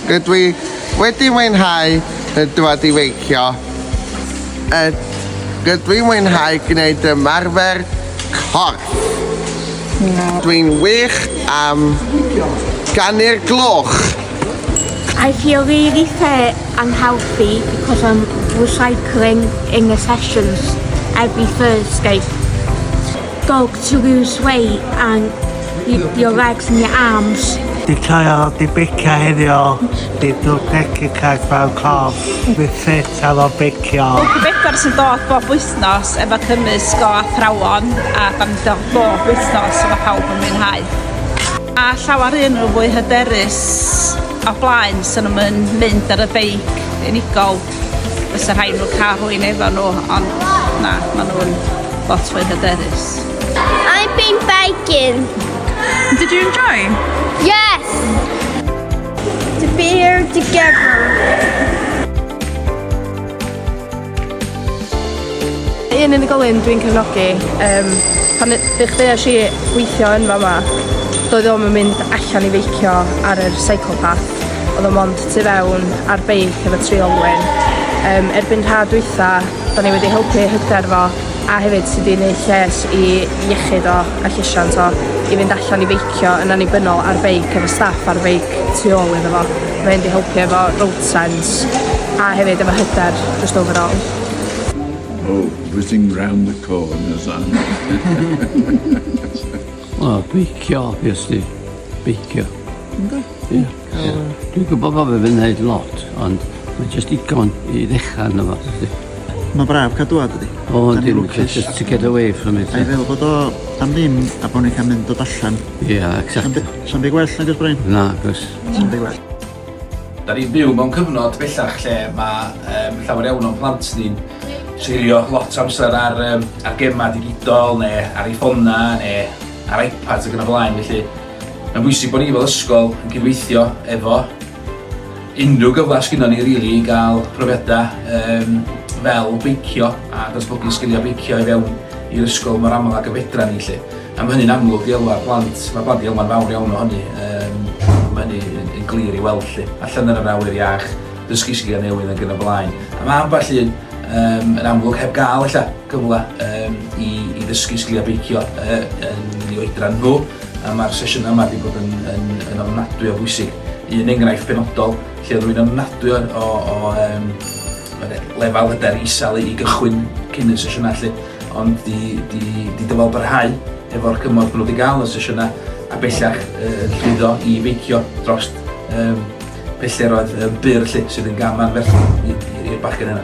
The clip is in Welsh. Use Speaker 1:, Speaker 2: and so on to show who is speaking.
Speaker 1: Rydw i wedi mwynhau y dwad i feicio. Y Rydw i'n mwynhau gwneud ymarfer corff. Dw i'n wych am ganu'r gloch.
Speaker 2: I feel really fit and healthy because I'm recycling in the sessions every Thursday. Dog to lose weight and your legs and your arms. Di coio,
Speaker 3: di bicio heddiw, di dwr pegi caeth fel cof, di ffit ar o bicio. Bwc bedwar sy'n dod
Speaker 4: bob wythnos efo cymysg o athrawon a banddo bob wythnos efo pawb yn mwynhau. A llawer un nhw fwy hyderus o blaen sy'n nhw'n mynd ar y beic unigol. fysa rhaid nhw cael rhywun efo nhw, ond na, maen nhw'n lot fwy hyderus. I've
Speaker 5: been biking. Did
Speaker 4: you enjoy? Yes!
Speaker 5: To be here together.
Speaker 6: un unigolyn dwi'n cefnogi, um, pan ddech chi eisiau i weithio yn fa yma, doedd o'm yn mynd allan i feicio ar yr cycle path, oedd o'n mond tu fewn ar beic efo tri olwyn. Um, erbyn rha dwytha, da ni wedi helpu hyder fo, a hefyd sydd wedi gwneud lles i iechyd o a llesiant o i fynd allan i feicio yn annibynnol ar beic efo staff ar feic tu ôl iddo fo. Mae hyn wedi helpu efo road sense a hefyd efo hyder just overall.
Speaker 7: Oh, whizzing round the corners, aren't
Speaker 8: they? Wel, beicio, obviously. Beicio. Ynddo? Ie. Ie. Dwi'n gwybod bod fe wedi wneud lot, ond mae jyst digon i ddechrau arno fo. Mae'n braf cael
Speaker 9: dŵad ydi. O, yndi, lwcus.
Speaker 8: Just to get away from it. A'i fel bod o
Speaker 9: am ddim a bod ni'n cael mynd dod allan. Ie, yeah, exactly.
Speaker 8: Sa'n byd gwell nag ys
Speaker 9: Brian? Na, gos. Sa'n
Speaker 8: byd gwell.
Speaker 9: Da ni'n
Speaker 10: byw mewn cyfnod bellach lle mae um, llawer iawn o'n plant ni'n seilio lot amser ar, um, ar gemau digidol neu ar ei ffona neu ar iPads ac yn y blaen. Felly Mae'n bwysig bod ni fel ysgol yn cydweithio efo unrhyw gyfle sgynnon ni rili i gael profiadau um, fel beicio a datblygu sgiliau beicio i fewn i'r ysgol mor aml ag y fedra ni lle. A mae hynny'n amlwg i elwa'r plant, mae plant i elwa'n fawr iawn o hynny. Um, mae hynny'n yn glir i weld lle. Allan yn yr awyr iach, dysgu sgiliau newydd ac yn y blaen. A mae ambell un um, yn amlwg heb gael ella gyfle um, i, i ddysgu sgiliau beicio uh, yn ei oedran nhw. A mae'r sesiynau yma wedi bod yn, yn, yn ofnadwy o bwysig. Un enghraifft benodol lle oedd rwy'n ofnadwy o, o, o um, lefel hyder isel i gychwyn cyn y sesiynau lle, ond di, di, di dyfal barhau efo'r cymorth nhw wedi gael y sesiynau a bellach uh, llwyddo i feicio dros um, pellteroedd um, byr lle sydd yn gaman ferth i'r bachgen yna.